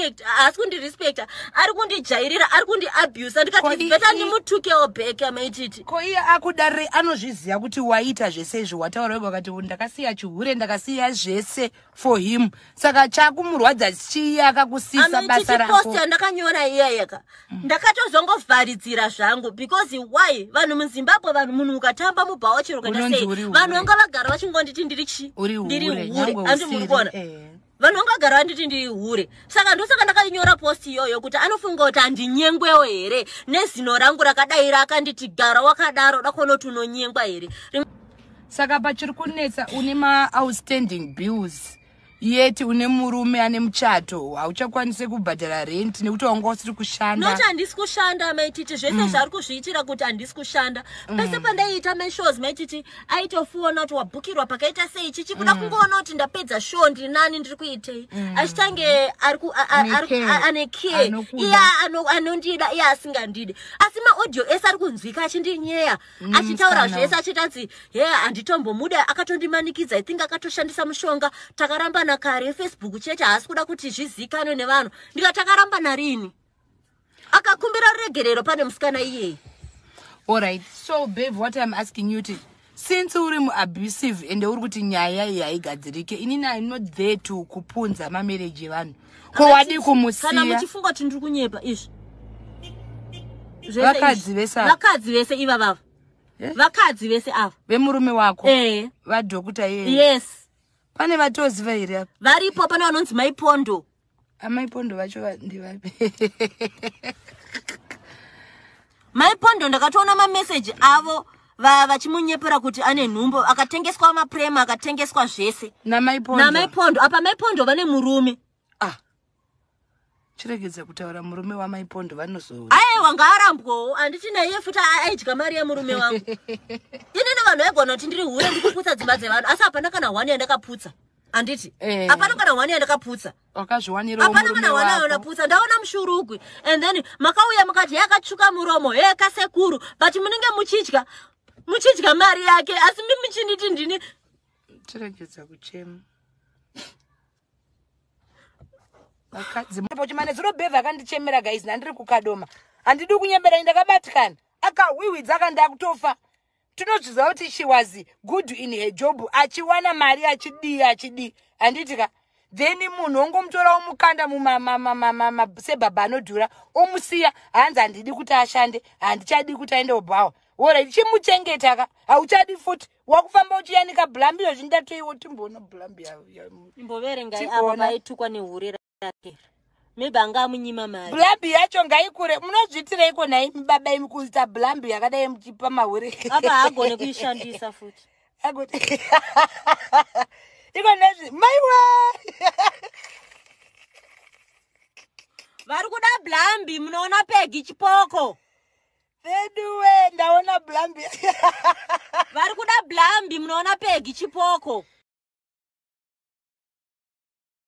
respect haasi kundirespecta ari kundijairira ari kundiabusa ndikati beta ndimutukewo back amaititi ko iye akuda re anozviziva kuti waita zvese izvi wataura wega wakati ndakasiya chihure ndakasiya zvese for him saka chakumurwadza chii akakusisa basa rakopost yandakanyora iyayeka mm. ndakatozongovharidzira zvangu because why vanhu muzimbabwe vanhu munhu ukatamba mubhawa chero ukaita sei vanhu vanga vagara vachingonditi ndiri chi ndiri hure andi muri kuona eh. vanhu vanga vagara vanditi ndiri hure saka ndosaka ndakanyora post iyoyo kuti anofunga kuti handinyengwewo here nezino rangu rakadai rakanditi gara wakadaro dakonoti unonyengwa here Rim saka pachiri kunetsa une maoutstanding bills yet une murume ane muchato hauchakwanise kubhadhara rent nekuti wanga usiri kushanda not handisi kushanda maititi zvese mm. zvaari kuzviitira kuti handisi kushanda mm. pese pandaiita mashows maititi aitofuona kuti wabhukirwa pakaita sei chichi kuda mm. kungoona kuti ndapedza show ndiri nani ndiri kuitei mm. achitange ane care iya anondida iya asingandide asi maaudio ese ari kunzwika achindinyeya Mm, achitaura zvese achitatsi he handitombomude akatondimanikidza i think akatoshandisa mushonga takarambana kare efacebook chete haasi kuda kuti zvizikanwe nevanhu ndika takarambana rini akakumbira ruregerero pane musikana iyeye allright so babe what iam asking you ti since uri muabusive ende uri kuti nyaya iyi haigadzirike inini i not there to kupunza mamarriage evanhu ko wadii kumusiya kana muchifunga kuti ndiri kunyepa izvi vakadzi vese vakadzi vese iva vava eh? vakadzi vese ava vemurume wako eh. vadhokuta yeye yes pane vatoziva here apa varipo pane vanonzi maipondo amaipondo vacho ndivabe Mai Pondo ndakatoona ma message avo vachimunyepera kuti ane nhumbu akatengeswa maprema akatengeswa zvese namai pondo apa mai pondo vane murume ah. chiregedza kutaura murume wamai pondo vanozoa aye wanga arambwawo handiti naiye futi aidya mari yemurume wangu inini vanhu vaigona kuti ndiri hure ndikuputsa dzimba dzevanhu asi hapana kana one yandakaputsa handiti eh. hapana kana one yandakaputsa wakazviwanirawo murume wako apana mwana wanayo naputsa ndaona mushurugwi and then makauya mukati yakatsvuka muromo he kasekuru but munenge muchidya muchidya mari yake asi mi muchinditi ndini tiregedza kuchema vakadzi pochimane dziro bhevha akandichemera guys nandiri kukadoma handidi kunyebera ndakabatikana akahwihwidza akandakutofa tinozviziva kuti she was good in her job achiwana mari achidii achidii handiti ka then munhu ongomutora omukanda sebhabha anodhura omusiya hanzi handidi kuti ashande handichadi kuti aende obhawa orit chimuchengeta ka hauchadi futi wakufamba uchiyanika blambi yozvindatoiwo timboona blambi yaimbovere ngai avo vaitukwa nehurera yake maybe anga amunyima mari blambi yacho ngaikure munozviitireiko nhai baba imi kuita blambi yakadai muchipa mahure apa haagone kuishandisa futi iko nezvi maiwe vari kuda blambi munoona pegi chipoko veduwe ndaona blambi vari kuda blambi munoona pegi chipoko